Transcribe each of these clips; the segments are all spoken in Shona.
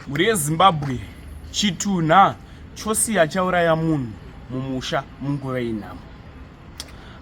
Mhuri yeZimbabwe chitunha chosiya chauraya munhu mumusha munguva yenhamo.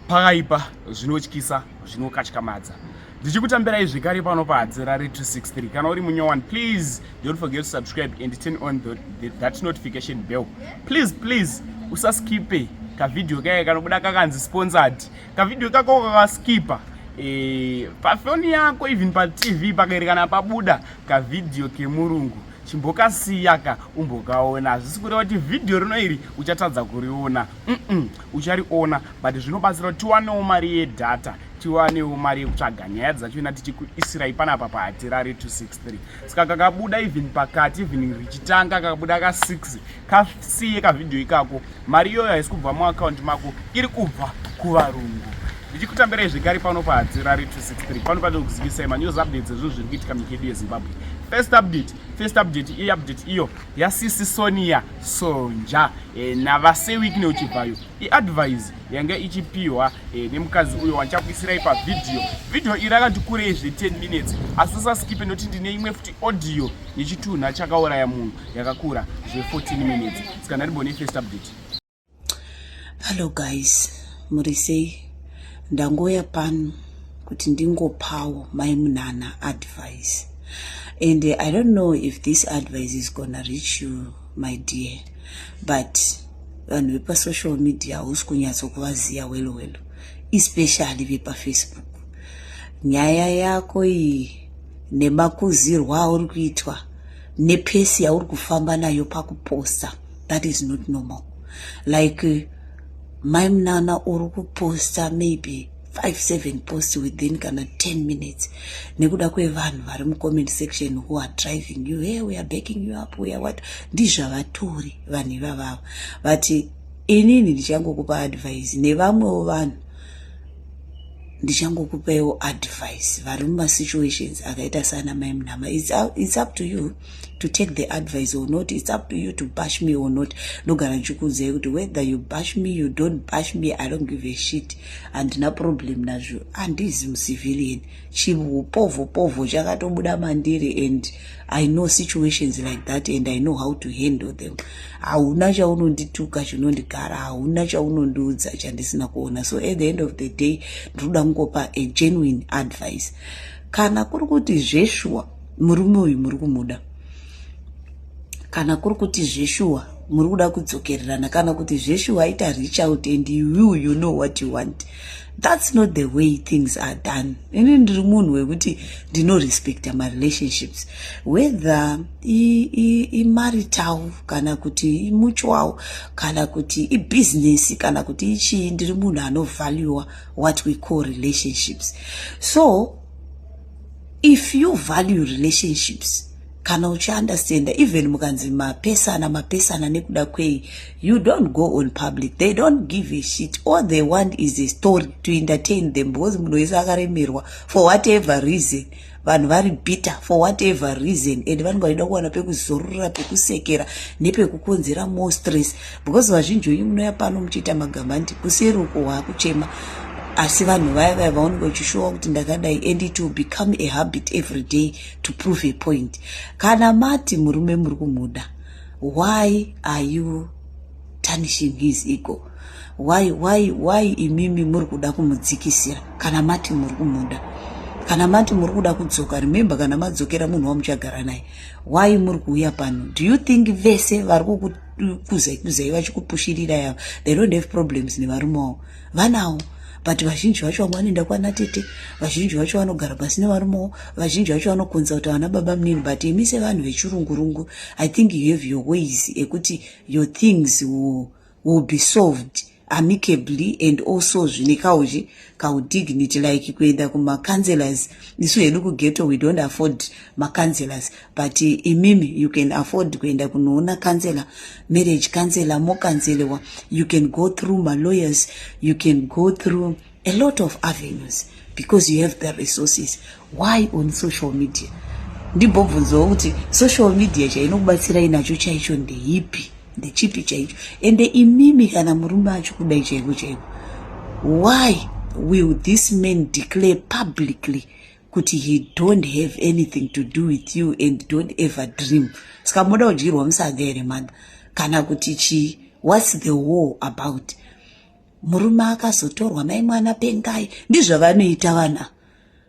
Pakaipa zvinotyisa zvinokatyamadza. Ndichikutambirai zvekare pano paHadzirare 263. Kana uri munyowani please don't forget to subscribe and turn on the, the, that notification bell. Please please usaskipe kavideo kaya kanobuda kakanzi sponsored kavideo kako kakaskipa e, pafoni yako even patv pakaerekana pabuda kavideo kemurungu chimbokasiyaka umbokaona hazvisi kureva kuti vhidhiyo rino iri uchatadza kuriona mm uchariona but zvinobatsira kuti tiwanewo mari yedhata tiwanewo mari yekutsvaga nyaya dzacho ina tichikuisirai panapa pahatirari 263 saka kakabuda even pakati even richitanga kakabuda ka6 kasiye kavhidhiyo ikako mari iyoyo haisi kubva muakaunti mako iri kubva kuvarungu ndichikutambirai zvekare pano pahadzirari 263 pano pane kuzikisai manews updates ezvinhu zviri kuitika mikedu yezimbabwe first update first update iyi update iyo yasisi sonia sonja e, navasewik neuchibvayo iadvise yanga ichipiwa e, nemukadzi uyo wandichakuisirai pavhidhiyo vhidhiyo iri akandikurei zve 10 minutes asi usaskipe noti ndine imwe futi audio yechitunha chakauraya munhu yakakura zve 14 minutes saka ndaribone first update hallo guys muri sei ndangouya pano kuti ndingopawo mai munana advice and i don't know if this advice is gonna reach you my dear but vanhu vepasocial media hausi kunyatsokuvaziva welo welo especially vepafacebook nyaya yako iyi nemakuzirwa auri kuitwa nepesi yauri kufamba nayo pakuposta that is not normal like mai munana uri kuposta maybe five seven post within kana ten minutes nekuda kwevanhu vari mucomment section who are driving you hey we are backing you up we are what ndizvavatori vanhu ivavavo but inini ndichangokupa advise nevamwewo vanhu ndichangokupaiwo advice vari mumasituations akaita sana mai munhama its up to you to take the advice or not its up to you to bash me or not ndogara ndichikuudzai kuti whether you bash me you don't bash me i don't give a shit handina problem nazvo handizi mucivilian chiupovopovo chakatobuda mandiri and i know situations like that and i know how to handle them hauna chaunondituka chinondigara hauna chaunondiudza chandisina kuona so at the end of the day ndinoda kungopa a genuine advice kana kuri kuti zveshuwa murume uyu muri kumuda kana kuri kuti zveshuwa muri kuda kudzokererana kana kuti zveshuwa ita reach out and you you know what you want that's not the way things are done ini ndiri munhu wekuti ndinorespecta marelationships whether imarital kana kuti imutual kana kuti ibusiness kana kuti ichii ndiri munhu anovaluwa what we call relationships so if you value relationships kana uchiunderstanda even mukanzi mapesana mapesana nekuda kwei you don't go on public they don't give a shit all they want is a story to entertain them because munhu wese akaremerwa for whatever reason vanhu vari bitter for whatever reason and vanenge vachida kuwana pekuzorora pekusekera nepekukonzera more stress because vazhinji venyu munouya pano muchiita magamba nti kuseri uko waakuchema asi vanhu vaya vaya vaonenge vachishowa kuti ndakadai and it will become a habit every day to prove a point kana mati murume muri kumuda why are you tarnishing his ego why why why imimi muri kuda kumudzikisira kana mati muri kumuda kana mati muri kuda kudzoka remember kana madzokera munhu wamuchagara naye why muri kuuya pano do you think vese vari kukuzai kuzai vachikupushirira yavo they don't have problems nevarume wavo vanawo but vazhinji vacho vamwe vanoenda kwana tete vazhinji vacho vanogara pasi nevarumewo vazhinji vacho vanokonza kuti havana baba munini but imi sevanhu vechirungurungu i think you have your ways ekuti your things will, will be solved amicably and also zvine kauchi kaudignity like kuenda kumacounselors isu hedu kugeto we don't afford macounselors but imimi you can afford kuenda kunoona counselor marriage counselor mokanzelewa you can go through malawyers you can go through a lot of avenues because you have the resources why on social media ndimbobvunzawo kuti social media chainokubatsirai nacho chaicho ndeipi ndechipi chaicho ende imimi kana murume acho kudai chaiko chaiko why will this man declare publicly kuti he don't have anything to do with you and don't ever dream saka moda kudyirwa musaga here mother kana kuti chii whats the war about murume akazotorwa mai mwana pengai ndizvavanoita vana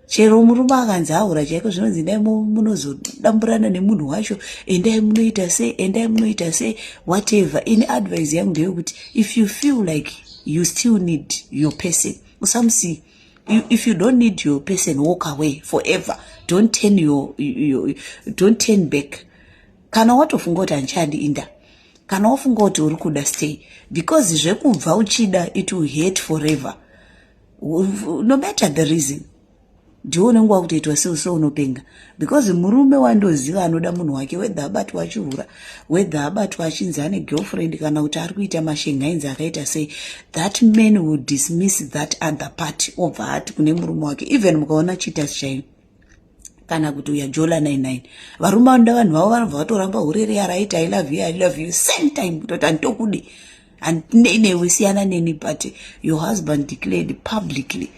chero murume akanzi aura chaiko zvinonzi endai munozodamburana nemunhu wacho endai munoita sei endai munoita sei whatever ini advise yangu ndeyekuti if you feel like you still need your person usamusiya You, if you don't need your person walk away forever don't turn your, your don't turn back kana watofunga kuti handichandi inda kana wafunga kuti uri kuda stay because zvekubva uchida it will hate forever no matter the reason ndiwo unenge wakutoitwa seuso unopenga because murume wandoziva anoda munhu wake wedha abatwa achihura wedha abatwa achinzi ane girlfriend kana kuti ari kuita mashenhainzi akaita sei that man will dismiss that other party obva ati kune murume wake even mukaona cheaters chaino kana kuti uya jola 99 varume vanoda vanhu vavo vanobva vatoramba hurere yaraiti i love you i love you same time kutoti handitokudi handinei newe siyana neni but your husband declared publicly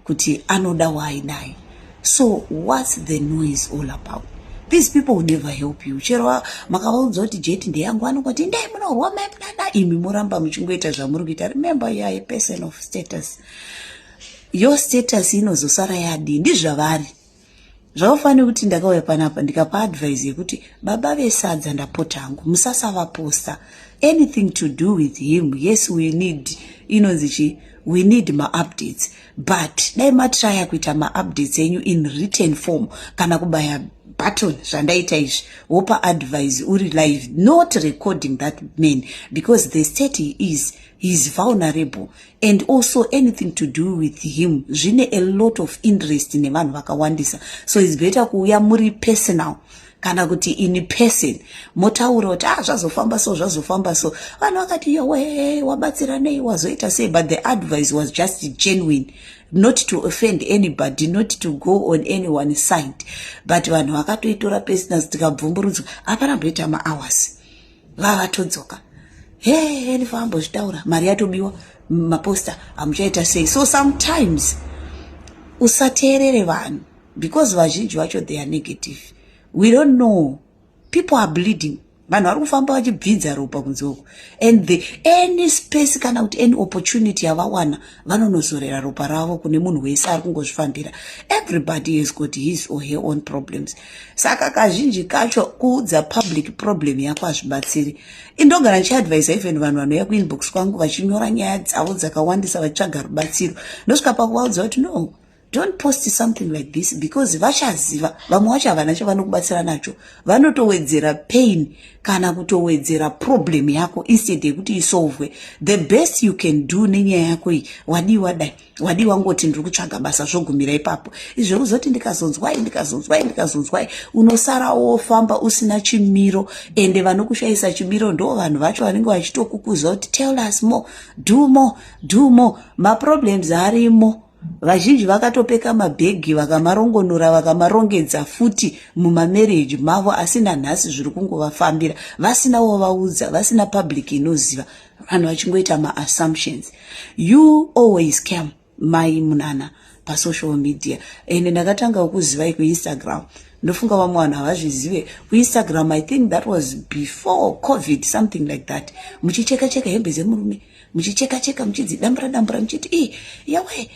kuti anoda waainaye so what's the noise all about these people will never help you chero makavaudza kuti jeti ndeyangu vanongoti ndai munorwa maimunana imi moramba muchingoita zvamuri kuita remember you are a person of status your status inozosara yadii ndizvavari zvaufanira kuti ndakauya panapa ndikapa advise yekuti baba vesadza ndapota hangu musasavaposta anything to do with him yes we need inonzi chii we need maupdates but dai matraya kuita maupdates enyu in written form kana kubaya button zvandaita izvi wopa advise uri live not recording that man because the state he is he is vulnerable and also anything to do with him zvine a lot of interest nevanhu vakawandisa so its better kuuya muri personal kana kuti in person motaura kuti ah zvazofamba so zvazofamba so vanhu vakati yowe wabatsira nei wazoita sei but the advice was just genuine not to offend anybody not to go on any one side but vanhu vakatoitora personal tikabvumburudzwa hapana mboita mahours vavatodzoka heni vambozvitaura mari yatobiwa maposta hamuchaita sei so sometimes usateerere vanhu because vazhinji vacho they are negative we don't know people are bleeding vanhu vari kufamba vachibvinza ropa kunze uku and the any space kana kuti any opportunity yavawana vanonozorera ropa ravo kune munhu wese ari kungozvifambira everybody has got his or her own problems saka kazhinji kacho kuudza public problem yako hazvibatsiri indogara ndichiadvisa even vanhu vanouya kuinbox kwangu vachinyora nyaya dzavo dzakawandisa vachitsvaga rubatsiro ndosvika pakuvaudza kuti no don't post something like this because vachaziva vamwe wacho havana chavanokubatsira nacho vanotowedzera pain kana kutowedzera problem yako instead yekuti isolvwe the best you can do nenyaya yako iyi wadii wadai wadii wangoti ndiri kutsvaga basa zvogumira ipapo izvo kuzoti ndikazonzwai ndikazonzwai ndikazonzwai unosara wofamba usina chimiro ende vanokushayisa chimiro ndo vanhu vacho vanenge vachitokukuza kuti tell us more do more do more maproblems arimo Vazhinji vakatopeka mabhegi vakamarongonora vakamarongedza futi mumamarriage mavo asi nanhasi zviri kungovafambira vasina wovaudza vasina public inoziva vanhu vachingoita maassumptions you always cam mai munana pasocial media ende ndakatanga kukuzivai kuinstagram ndofunga vamwe vanhu havazvizive kuinstagram i think that was before covid something like that muchicheka cheka hembe dzemurume muchicheka cheka muchidzi dambura dambura muchiti i yawe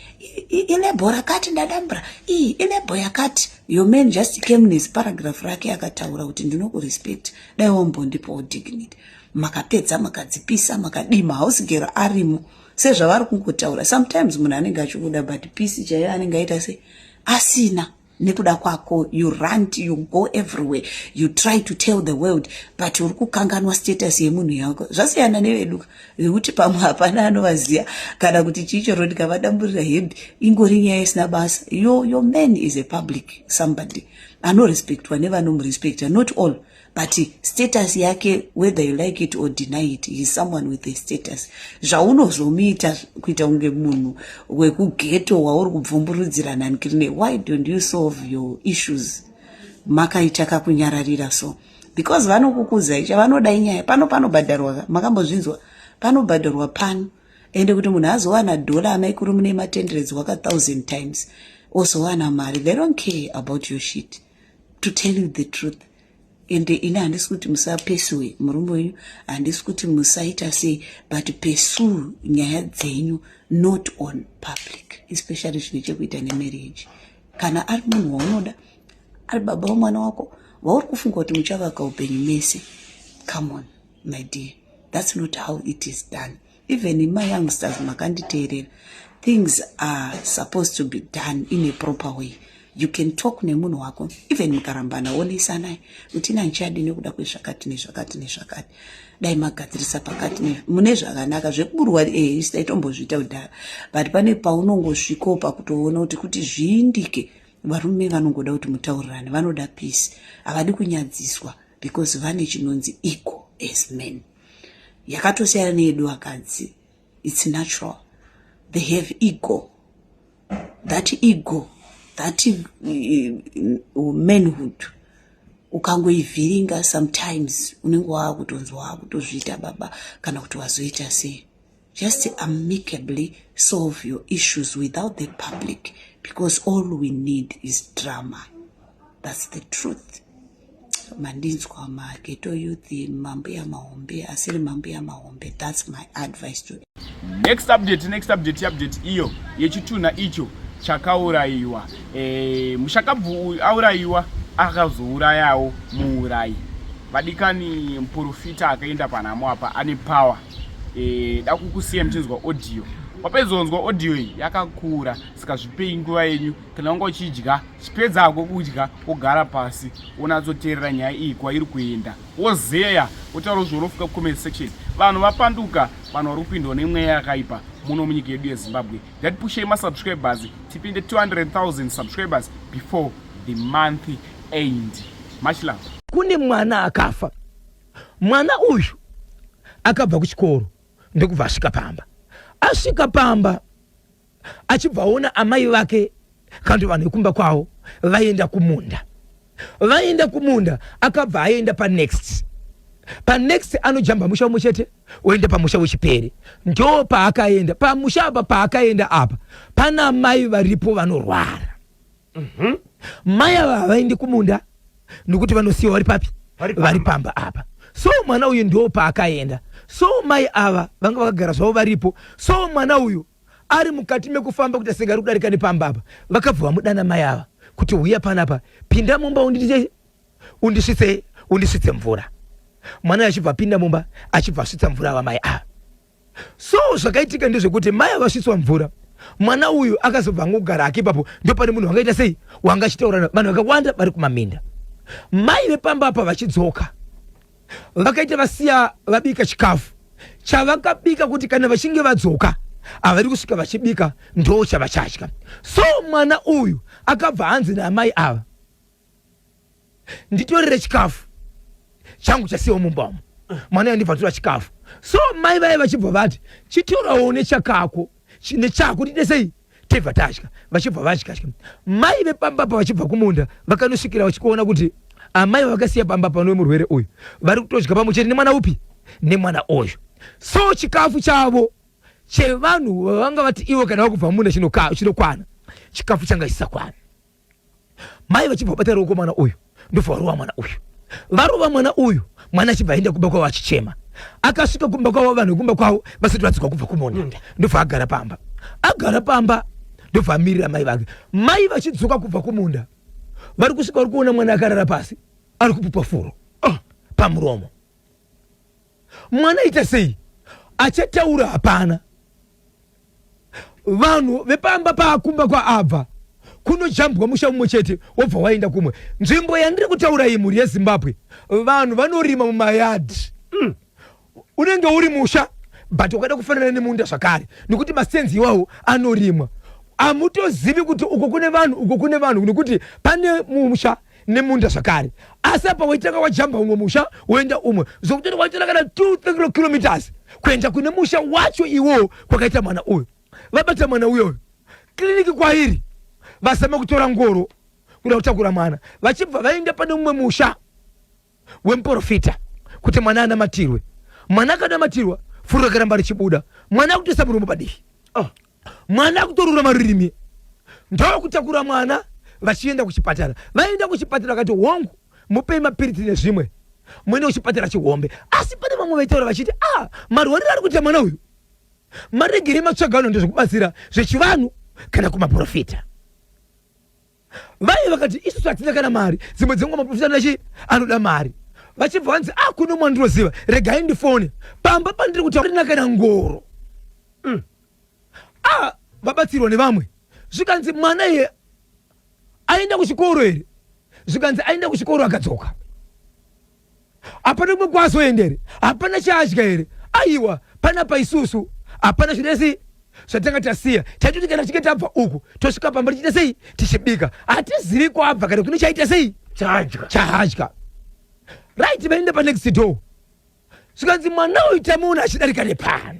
ilebho rakati ndadambura i ilebho yakati your man just came nes paragraph rake akataura kuti ndinokurespect dai wambondipawo dignity makapedza makadzipisa makadima house gero arimo sezvavari kungotaura sometimes munhu anenge achikuda but pisi chaiyo anenge aita se asina nekuda kwako you rant you go everywhere you try to tell the world but uri kukanganwa status yemunhu yako zvasiyana neveduka vekuti pamwe hapana anovaziva kana kuti chii choro ndikavadamburira hembe ingori nyaya isina basa yo your man is a public somebody anorespectwa nevanomurespekta not all but status yake whether you like it or deny it he is someone with a status zvaunozomuita kuita kunge munhu wekugeto wauri kubvumburudzira nhanikirine why don't you solve your issues makaita kakunyararira so because vanokukuzai chavanoda inyaya pano panobhadharwa makambozvinzwa panobhadharwa pano ende kuti munhu azowana dhola amaikuru mune matenderedzi waka thousand times ozowana mari they don't care about your shit to tell you the truth and ini handisi kuti musapesiwe murume wenyu handisi kuti musaita sei but pursue nyaya dzenyu not on public especially zvine chekuita nemarriage kana ari munhu waunoda ari baba wemwana wako vauri kufunga kuti muchavaka upenyu mese come on my dear that's not how it is done even ima youngsters makanditeerera things are supposed to be done in a proper way you can talk nemunhu wako even mukarambana onesanai kuti ina ndichadi nekuda kwezvakati nezvakati nezvakati dai magadzirisa pakati mune zvakanaka zvekuburwa eh, isi taitombozviita kudhara but pane paunongosvikawo pakutoona kuti kuti zviindike varume vanongoda kuti mutaurirane vanoda peace havadi kunyadziswa because vane chinonzi equal as men yakatosiyana neyedu vakadzi its natural they have ego that ego that uh, manhood ukangoivhiringa sometimes unenge waakutonzwa waakutozviita baba kana kuti wazoita sei Just amicably solve your issues without the public because all we need is drama. That's the truth. Mandinzwa ma ghetto youth, mambuya mahombe, asiri mambuya mahombe. That's my advice to Next update, next update, update iyo yechitunha icho chakaurayiwa. Eh, mushakabvu aurayiwa akazourayawo muurayi. Vadikani muporofita akaenda panhamo apa ane power. eh, dakukusiya muchinzwa audio wapedzonzwa audio iyi yakakura saka zvipei nguva yenyu kana wanga uchidya chipedza hako kudya wogara pasi wonatsoteerera nyaya iyi kwairi kuenda wozeya wotaura zvounofuka comment section vanhu vapanduka vanhu vari kupindwa nemweya yakaipa muno munyika yedu yezimbabwe ngatipushei masubscribers tipinde 200000 subscribers before the month end much love kune mwana akafa Mwana uyu akabva kuchikoro ndokubva asvika pamba. Asvika pamba achibvaona amai vake kandi vanhu vekumba kwavo vaenda kumunda. Vaenda kumunda akabva aenda panext. Panext anojamba musha umwe chete oenda pamusha wechipere. Ndo paakaenda pamusha apa paakaenda apa pana amai varipo vanorwara. Mhm. mai ava havaendi kumunda nokuti vanosiyiwa vari papi Vari pamba. vari pamba apa so mwana uyu ndiwo paakaenda so mai ava vanga vakagara zvavo varipo so mwana uyu ari mukati mekufamba kuti asingari kudarika nepamba apa vakabva vamudana mai ava kuti huya panapa pinda mumba unditei undisvitse undisvitse mvura mwana uyu achibva apinda mumba achibva asvitsa mvura ava mai ava so zvakaitika ndezvekuti mai avasvitswa mvura mwana uyu akazobva angogara hake ipapo ndopane munhu wangaita sei wanga achitaurana vanhu vakawanda vari kumaminda mai vepamba apa vachidzoka vakaita vasiya vabika chikafu chavakabika kuti kana vachinge vadzoka havari kusvika vachibika ndo chavachadya so mwana uyu akabva hanzi naamai ava nditorere chikafu changu chasiyawo mumba umu mwana yandibva tora chikafu so mai vaye vachibva vati chitorawo nechakako nechako tiite sei tibva tatya vachibva vatya tya mai vepamba pa vachibva kumunda vakanosvikira vachikuona kuti amai vakasiya pamba pano vemurwere uyu vari kutodya pamwe chete nemwana upi nemwana uyu so chikafu chavo chevanhu vanga vati ivo kana vakubva munda chinokwana chikafu changa chisakwana mai vachibva vabata ruoko mwana uyu ndobva varova mwana uyu varova mwana uyu mwana achibva aenda kumba kwavo achichema akasvika kumba kwavo vanhu vekumba kwavo vasati vadzikwa kubva kumunda ndobva agara pamba agara pamba ndobva amirira mai vake mai vachidzoka kubva kumunda vari kusvika vari kuona mwana akarara pasi ari kupupa furo oh, pamuromo mwana aita sei achataura hapana vanhu vepamba paakumba kwaabva kunojambwa musha umwe chete wobva waenda kumwe nzvimbo yandiri kutaura iyi mhuri yezimbabwe vanhu vanorima mumayadhi mm. unenge uri musha but ukada kufanana nemunda zvakare nekuti masenzi iwawo anorimwa amutozivi kuti uko kune vanhu uko kune vanhu nekuti pane musha nemunda zvakare asi apa waitanga wajamba umwe musha woenda umwe zvokuti waitira kana 2 kilometers kuenda kune musha wacho iwowo kwakaita mwana uyu vabata mwana uyoyo kiriniki kwairi vazama kutora ngoro kuda kutakura mwana vachibva vaenda pane umwe musha wemuporofita kuti mwana anamatirwe mwana akanamatirwa furo rakaramba richibuda mwana akutoisa muromo padivi oh. mwana akutorura marurimi ndokutakura mwana vachienda kuchipatara vaenda kuchipatara vakati hongu mupei mapiritsi nezvimwe muende kuchipatara chihombe asi pane vamwe vaitaura vachiti a ah, marwariro ari kuita mwana uyu maregere matsvagano ndezvekubatsira zvechivanhu kana kumaprofita Mai vakati isusu hatina kana mari, dzimwe dzenguva maprofita anoda chii? Anoda mari. Vachibva vanzi ah, kune umwe wandinoziva, regai ndifone. Pamba pandiri kuti hatina kana ngoro. Mm. Ah, vabatsirwa nevamwe. Zvikanzi mwana iye aenda kuchikoro here? Zvikanzi aenda kuchikoro akadzoka. hapana kumwe kwaazoenda here hapana chaadya here aiwa panapa isusu hapana zvine sei zvatanga tasiya taitoti kana tichinge tabva uku tosvika pamba tichiita sei tichibika hatizivi kwabva kana kune chaita sei chadya chahadya right vaenda panext door zvikanzi mwana uyu tamuona achidarika nepano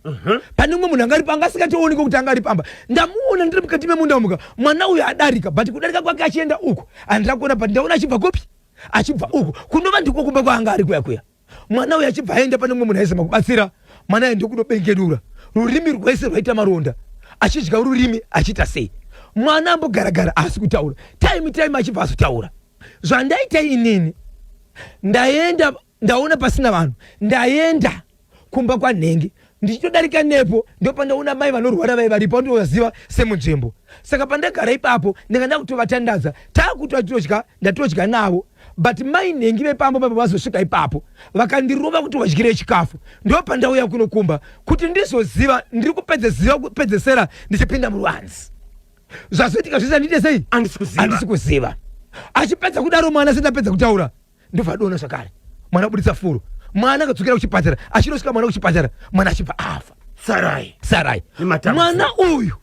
Uh-huh. pane umwe munhu anga aripo anga asingatooneke kuti anga ari pamba ndamuona ndiri mukati memunda muka mwana uyo adarika but kudarika kwake achienda uku andira kuona but ndaona achibva kopi achibva uku kunova ndiko kumba kwaanga ari kuya kuya mwana uyo achibva aenda pane umwe munhu aizama kubatsira mwana aende kunobengenura rurimi rwese rwaita maronda achidya rurimi achiita sei mwana ambogaragara aasi kutaura time time achibva azotaura zvandaita inini ndaenda ndaona pasina vanhu ndaenda kumba kwanhenge ndichitodarika nepo ndopandaona mai vanorwara vai varipo ndovaziva semunzvimbo saka pandagara ipapo ndanga ndakutovatandadza taakutotodya ndatodya navo but mai nhengi vepambo papa vazosvika ipapo vakandirova kuti vadyire chikafu ndopandauya kunokumba kuti ndizoziva ndiri kupedze ziva kupedzesera ndichipinda muruanzi zvazoitika zvese andite sei andisi kuziva achipedza kudaro mwana sendapedza kutaura ndobva adona zvakare mwana abuditsa furu mwana akadzokera kuchipatara achinosvika mwana kuchipatara mwana achibva afa sarai sarai mwana uyu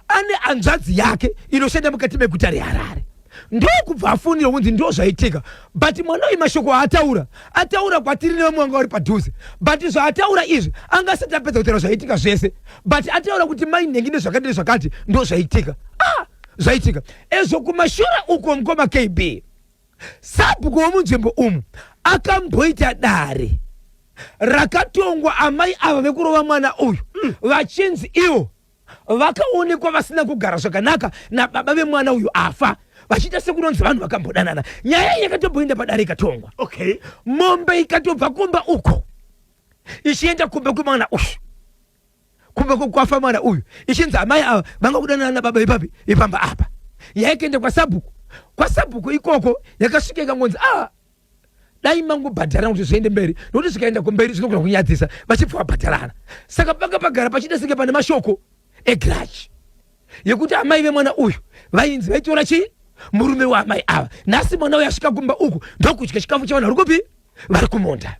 ane anzvadzi yake inoshanda mukati meguta reharare ndokubva afonera kunzi ndo zvaitika but mwana uyu mashoko aataura ataura kwatiri nevamwe vanga vari padhuze but zvaataura izvi anga asati apedza kutaura zvaitika zvese but ataura kuti mai nhengi nezvakati nezvakati ndo zvaitika ah zvaitika ezvo kumashura uko mukoma kb Sabhuku womunzvimbo umu akamboita dare rakatongwa amai ava vekurova mwana uyu mm. vachinzi ivo vakaonekwa vasina kugara zvakanaka nababa vemwana uyu afa vachiita sekunonzi vanhu vakambodanana nyaya iyi yakatomboenda padare ikatongwa okay. mombe ikatobva kumba uko ichienda kumba kwemwana uyu kumba kwekwafa mwana uyu ichinzi amai ava vanga kudanana nababa ipapi ipamba apa yaikaenda kwasabhuku kwasabhuku ikoko yakasvika ikangonzi ah dai mangobhadharana kuti zviende mberi nokuti zvikaenda kumberi zvinogona kunyadzisa vachibva vabhadharana saka panga pagara pachida senge pane mashoko egrachi yekuti amai vemwana uyu vainzi vaitora chii murume waamai ava nhasi mwana uyu asvika kumba uku ndokudya chikafu chavana vari kupi vari kumunda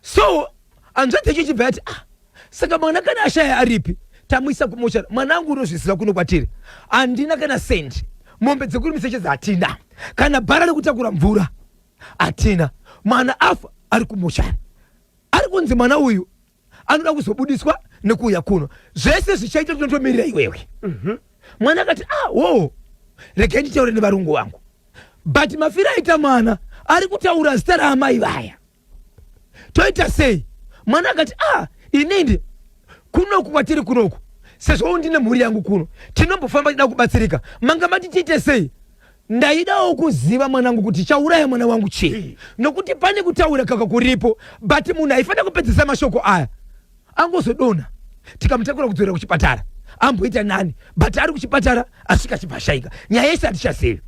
so hanzvadzi yacho ichibva yati ah, saka mwana kana ashaya aripi tamuisa kumochari mwana angu unozviziva kuno kwatiri handina kana sendi mombe dzekuri misechedza hatina kana bhara rekutakura mvura hatina mwana afa ari kumochari ari kunzi mwana uyu anoda kuzobudiswa nekuuya kuno zvese zvichaita tinotomirira iwewe mhm. mwana akati ah, wo regai nditaure nevarungu vangu but mafira aita mwana ari kutaura zita raamai vaya toita sei mwana akati ah inindi kunoku kwatiri kunoku sezvo ndine mhuri yangu kuno tinombofamba tida kubatsirika manga mati tiite sei ndaidawo kuziva mwanangu kuti chauraya mwana wangu chii nokuti pane kutaura kaka kuripo but munhu haifanira kupedzisa mashoko aya angozodonha tikamutakura kudzorera kuchipatara amboita nani but ari kuchipatara asvika achibva ashaika nyaya yese hatichazivi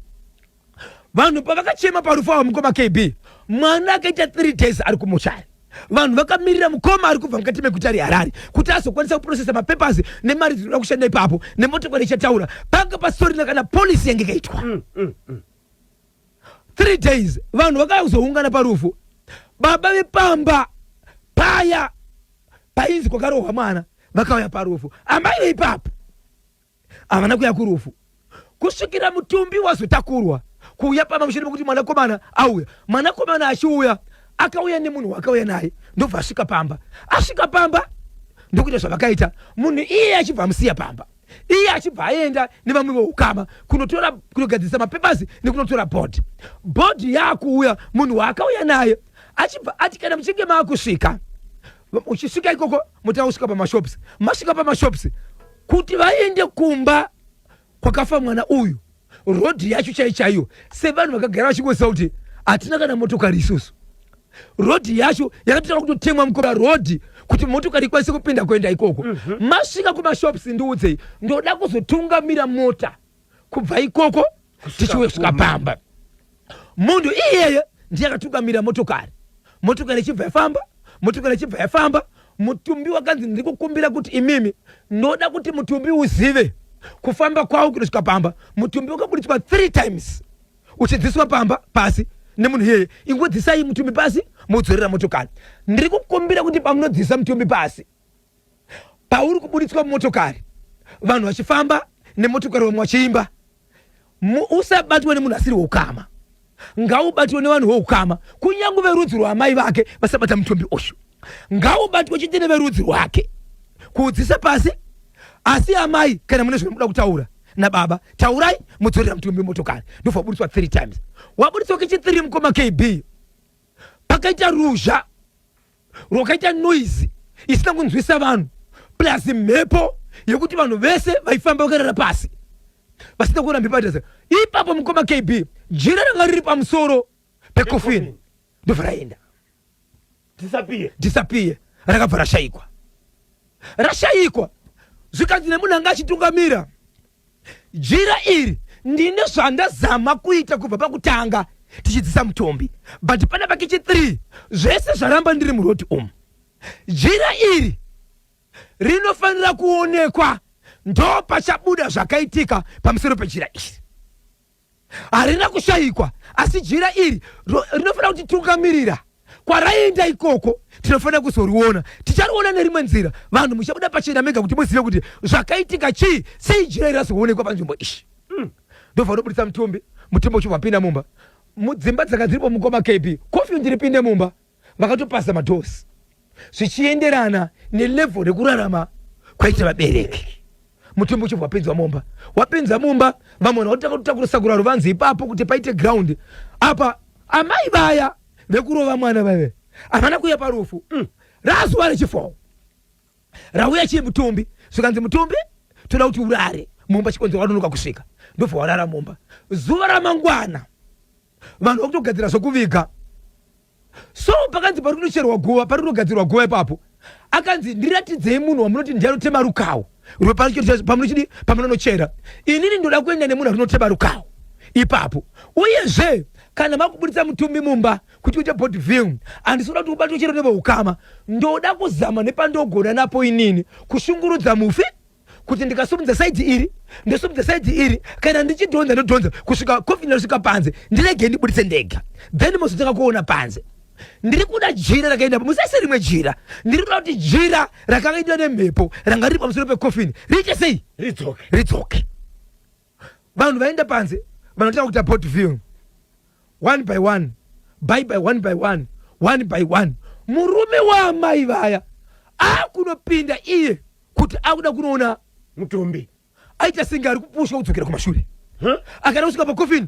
vanhu pavakachema parufu ava mukoma kb mwana akaita three days ari kumuchaya vanhu vakamirira mukoma ari kubva mukati meguta reharare kuti azokwanisa kuprocesa mapapers nemari dzinoda kushanda ipapo nemotokari ichataura panga pasitorina kana polisi yange ikaitwa mm, mm, mm. three days vanhu vakauya kuzoungana parufu baba vepamba paya painzi kwakarohwa mwana vakauya parufu amai veipapo havana kuya kurufu kusvikira mutumbi wazotakurwa kuuya pamba mushure mekuti mwanakomana auya mwanakomana achiuya akauya nemunhu waakauya naye ndobva asvika pamba asvika pamba ndokuita zvavakaita munhu iye achibva amusiya pamba iye achibva aenda nevamwe veukama kunotora kunogadzirisa mapepers nekunotora bhodhi bhodhi yaakuuya munhu waakauya naye achibva ati kana muchinge maakusvika uchisvika ikoko motanga kusvika pamashops masvika pamashops kuti vaende kumba kwakafa mwana uyu road yacho chai chaiyo sevanhu vakagara vachingoziva kuti hatina kana motokari isusu road yacho yakatotanga kutotemwa mukora road kuti motokari ikwanise kupinda kuenda ikoko mm -hmm. masvika kumashops ndiudzei ndoda kuzotungamira mota kubva ikoko tichiwesvika pamba mm -hmm. munhu iyeye ndiye akatungamira motokari motokari ichibva yafamba motokari ichibva yafamba mutumbi wakanzi ndiri kukumbira kuti imimi ndoda kuti mutumbi uzive kufamba kwawo kunosvika pamba mutumbi wakaburitswa three times uchidziswa pamba pasi nemunhu iyeye ingodzisai mutumbi pasi modzorera motokari ndiri kukumbira kuti pamunodzisa mutumbi pasi pauri kuburitswa motokari vanhu vachifamba nemotokari vamwe vachiimba usabatwe nemunhu asiri weukama ngaubatwe nevanhu veukama kunyange verudzi rwaamai vake vasabata mutumbi uyu ngaubatwe chete neverudzi rwake kuudzisa pasi asi amai kana mune zvinomuda kutaura nababa taurai mudzorera mutumbi motokari ndobva waburitswa three times waburitswa kechithree mukoma kb pakaita ruzha rwakaita noise isina kunzwisa vanhu plus mhepo yekuti vanhu vese vaifamba vakarara pasi vasina kuona mhepo yatasa ipapo mukoma kb jira ranga riri pamusoro pekofini ndobva raenda disappear disappear rakabva rashayikwa rashayikwa zvikanzi nemunhu anga achitungamira Jira iri ndine zvandazama kuita kubva pakutanga tichidzisa mutombi but pana pakichi 3 zvese zvaramba ndiri muroti umu. Jira iri rinofanira kuonekwa ndopachabuda zvakaitika pamusoro pejira iri. harina kushayikwa asi jira iri rinofanira kutitungamirira kwaraienda ikoko tinofanira kuzoriona tichariona nerimwe nzira vanhu muchabuda pachena mega kuti muzive kuti zvakaitika chii sei jira iri razoonekwa panzvimbo ishi hmm. ndobva unobudisa mutumbi mutumbi uchibva pinda mumba mudzimba dzakadziripo mukoma kb kofi ndiri pinde mumba vakatopasa madoors zvichienderana nelevel rekurarama kwaita vabereki mutumbi uchibva wapinzwa mumba wapinza mumba vamwe vanotanga kutakura sakura ruvanzi ipapo kuti paite ground apa amai vaya vekurova mwana vave havana kuuya parufu mm. razuva rechifoo rauya chii mutumbi zvikanzi mutumbi toda kuti urare mumba chikonzero wanonoka kusvika ndobva warara mumba zuva ramangwana vanhu vakutogadzira zvekuviga so pakanzi pari kunocherwa guva pari kunogadzirwa guva ipapo akanzi ndiratidzei munhu wamunoti ndiye anotema rukawo rwepamunochidi pamunonochera inini ndoda kuenda nemunhu arinotema rukawo ipapo uyezve kana makubuditsa mutumbi mumba kuti uite body view handisoda kuti ubatwe chero neveukama ndoda kuzama nepandogona napo inini kushungurudza mufi kuti ndikasumudza saidhi iri ndosumudza saidhi iri kana ndichidhonza ndodhonza kusvika kofi ndosvika panze ndirege ndibuditse ndega then mozotanga kuona panze ndiri kuda jira rakaendapo musese rimwe jira ndiri kuda kuti jira rakanga idiwa nemhepo ranga riri pamusoro pekofini riite sei ridzoke vanhu vaenda panze vanotanga kuita port viewing one by one by by one by one one by one murume waamai vaya akunopinda iye kuti akuda kunoona mutumbi aita senge ari kupushwa kudzokera kumashure akada kusvika pakofini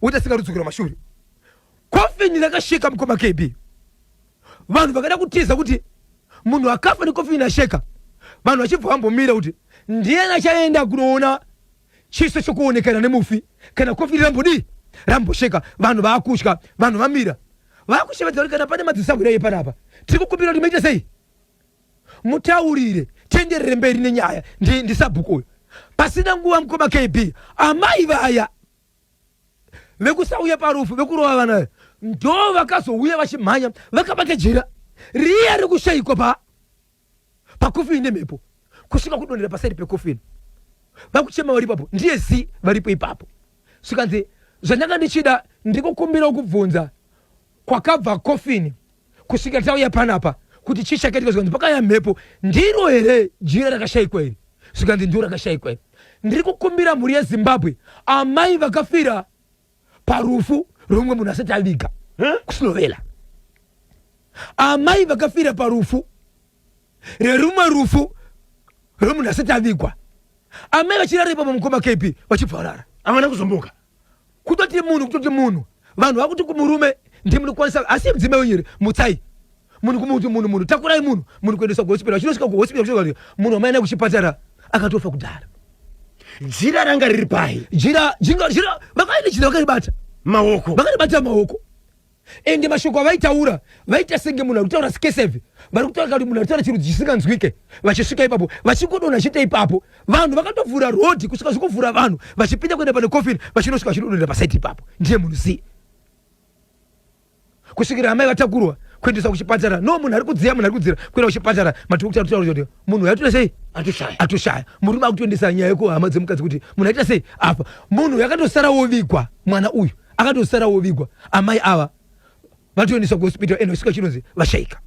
woita senge ari kudzokera kumashure kofini rakasheka mukoma kb vanhu vakada kutiza kuti munhu akafa nekofi inasheka vanhu vachibva vambomira kuti ndiyani achaenda kunoona chiso chokuonekana nemufi kana kofi iri rambodii rambosheka vanhu vakutya vanhu vamira vakushevedza kuti kana pane madzisahwira iye panapa tiri kukumbira kuti maita sei mutaurire tienderere mberi nenyaya ndisabhuku uyo pasina nguva mukoma kb amai vaya vekusauya parufu vekurova vana ndo vakazouya vachimhanya vakabata jira riya rekushaikwa pa pakofini nemhepo kusvika kudonhera pasaidi pekofini vakuchema vari ipapo ndiye zi varipo ipapo zvikanzi zvandanga ndichida ndikukumbira kubvunza kwakabva coffin kusvika tauya panapa kuti chii chakaitika zvikanzi pakaya mhepo ndiro here jira rakashaikwa iri zvikanzi ndiro rakashaikwa iri ndiri kukumbira mhuri yezimbabwe amai vakafira parufu rwemumwe munhu asati aviga kusinovela amai vakafira parufu rerumwe rufu rwemunhu asati avigwa amai vachirara ipapo mukoma kp vachibva varara havana kuzomboka kutoti munhu kutoti munhu vanhu vakuti kumurume ndimuri kwanisa asi mudzimai wenyu here mutsai munhu kumuti munhu munhu takurai munhu munhu kuendesa kuhospital achinosvika kuhospital kuchinoa munhu wamaenda kuchipatara akatofa kudhara jira ranga riri pai jira jinga jira vakaita jira vakaribata maoko vakaribata maoko ende mashoko avaitaura vaita senge munhu arikutaura skeseve vari kutaura kuti munhu aritaura chirudzi chisinganzwike vachisvika ipapo vachingodona chete ipapo vanhu vakatovhura rodhi kusvika zvikuvhura vanhu vachipinda kuenda pane kofini vachinosvika vachidonera pasaiti ipapo ndiye munhu sei kusvikira amai vatakurwa kuendesa kuchipatara no munhu ari kudziya munhu ari kudzira kuenda kuchipatara matikuti aritaura kuti munhu uyu atita sei atoshaya murume akutoendesa nyaya yekuhama dzemukadzi kuti munhu aita sei apa munhu yakatosara wovigwa mwana uyu akatosara wovigwa amai ava vatoendeswa kuhospital ende kusvika chinonzi vashaika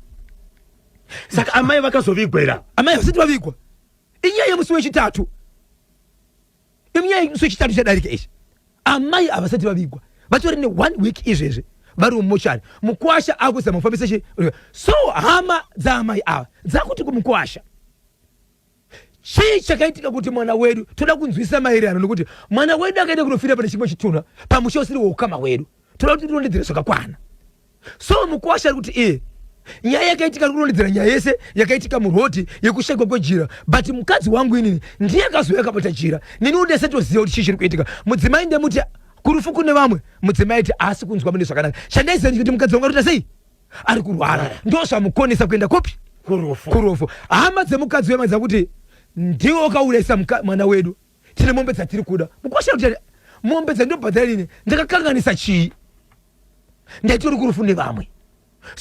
saka amai vakazovigwa here amai vasati vavigwa inyaya yemusi wechitatu inyaya yemusi wechitatu chadarika ichi amai havasati vavigwa vatori neone week izvezvi vari mumochari mukwasha akuzama kufambisa so hama dzaamai ava dzakuti kumukwasha chii chakaitika kuti mwana wedu toda kunzwisisa maererano nekuti mwana wedu akaenda kunofira pane chimwe chitunha pamusha usiri weukama wedu toda kuti tirondedzere zvakakwana so mukwasha ari kuti iye nyaya yakaitika ari kurondedzera nyaya yese yakaitika murhodhi yekushaikwa kwejira but mukadzi wangu inini ndiye akazouya akabata jira nini undese toziva kuti chii chiri kuitika mudzimai ndemuti kurufu kune vamwe mudzimai ti asi kunzwa mune zvakanaka chandaiziva ndikuti mukadzi wangu arita sei ari kurwara ndozvamukonesa kuenda kopi kurufu kurufu hama dzemukadzi wema dzakuti ndiwe wakaurayisa mwana wedu tine mombe dzatiri kuda mukwasha kuti mombe dzandinobhadhara ini ndakakanganisa chii ndaitori kurufu nevamwe so,